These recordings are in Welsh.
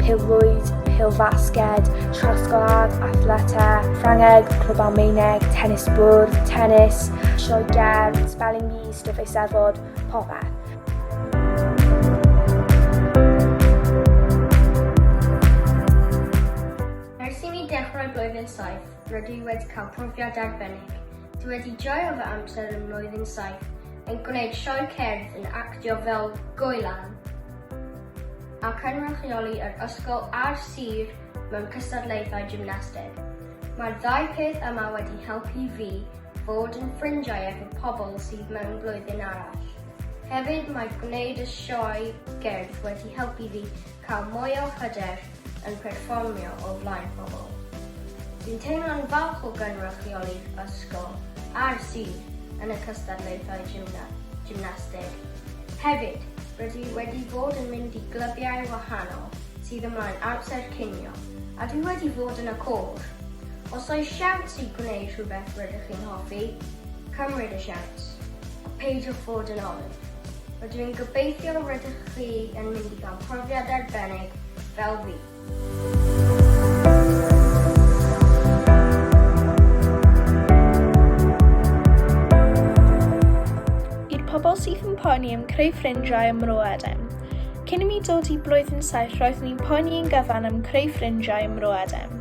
pêl-rwyd, pêl-fasged, trosglwâd, athleta, Ffrangeg, Clwb Almaeneg, tennis bwrdd, tennis, sioe gerdd, spelling bee, stwff eisteddfod, popeth. rydw i wedi cael profiad arbennig. Dwi wedi joio fy amser yn mlwyddyn saith yn gwneud sioe cerdd yn actio fel goelan. a chynrychioli yr ysgol a'r sir mewn cystadlaethau gymnasteg. Mae'r ddau peth yma wedi helpu fi fod yn ffrindiau efo pobl sydd mewn blwyddyn arall. Hefyd mae gwneud y sioe gerdd wedi helpu fi cael mwy o hyder yn perfformio o flaen pobl. Dwi'n teimlo'n falch o gynrychioli'r ysgol a'r sir yn y cystadlaethau gymnasteg. Hefyd, Rydw i wedi bod yn mynd i glybiau wahanol sydd ymlaen amser cinio, a dwi wedi bod yn y côr. Os oes siawns i gwneud rhywbeth rydych chi'n hoffi, cymryd y siawns, a peidiwch fod yn olwg. Rydw i'n gobeithio rydych chi yn mynd i gael profiad arbennig fel fi. pobl sydd yn poeni am creu ffrindiau ym Mro Edem. Cyn i mi dod i blwyddyn saith roedd ni'n poeni yn gyfan am creu ffrindiau ym Mro Edem.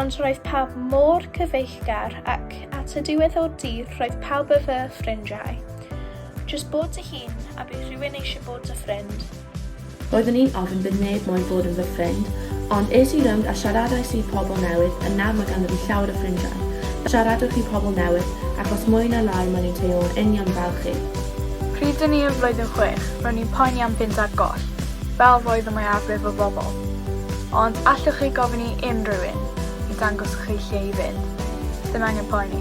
Ond roedd pawb mor cyfeillgar ac at y diwedd o'r dydd roedd pawb y fy ffrindiau. Just bod dy hun a bydd rhywun eisiau bod dy ffrind. Roeddwn i'n ofn bydd neb moyn bod yn fy ffrind, ond es i rownd a siaradais i pobl newydd, yn nawr mae ganddo fi llawer o ffrindiau. Siaradwch i pobl newydd, ac os mwy na lai maen nhw'n teimlo'n union fel chi. Pryd o'n i yn flwyddyn chwech, ro'n i'n poeni am fynd ar goll, fel roedd y mwyafrif o bobl. Ond allwch chi gofyn i unrhyw un i dangos chi lle i fynd, ddim angen poeni.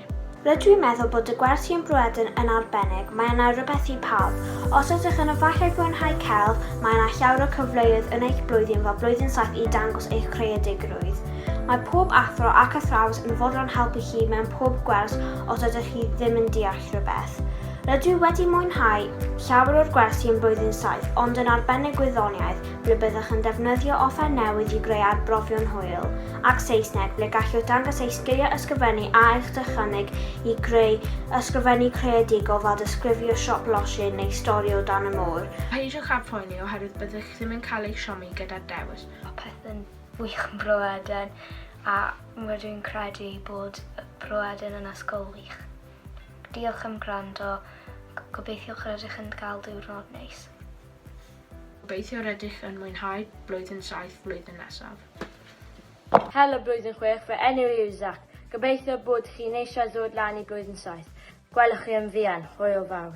Rydw i'n meddwl bod y gwersi yn Bruadn yn arbennig, mae yna rywbeth i pawb. Os ydych yn yfallai fwynhau celf, mae yna llawer o cyfleoedd yn eich blwyddyn fel Blwyddyn Saith i dangos eich creadigrwydd. Mae pob athro ac athrawes yn fodlon helpu chi mewn pob gwers os ydych chi ddim yn deall rhywbeth. Rydw i wedi mwynhau llawer o'r gwersi yn Blwyddyn Saith ond yn arbennig gwyddoniaeth ble byddwch yn defnyddio offer newydd i greu arbrofion hwyl. ac Saesneg, ble gallwch dangos eich sgiliau ysgrifennu a eich dychymyg i greu ysgrifennu creadigol fel disgrifio siop losin neu stori o dan y môr. Peidiwch â phoeni oherwydd byddwch ddim yn cael eich siomi gyda'r dewis. Mae pethau'n wych yn Bro Eden a rydw i'n credu ei bod Bro Eden yn ysgol wych. Diolch am gwrando, gobeithio rydych yn cael diwrnod neis. Gobeithio rydych yn mwynhau blwyddyn saith flwyddyn nesaf. Helo Blwyddyn Chwech, fy enw i yw Zac. Gobeithio bod chi'n eisiau ddod lan i Blwyddyn Saith. Gwelwch chi yn fuan. Hwyl fawr.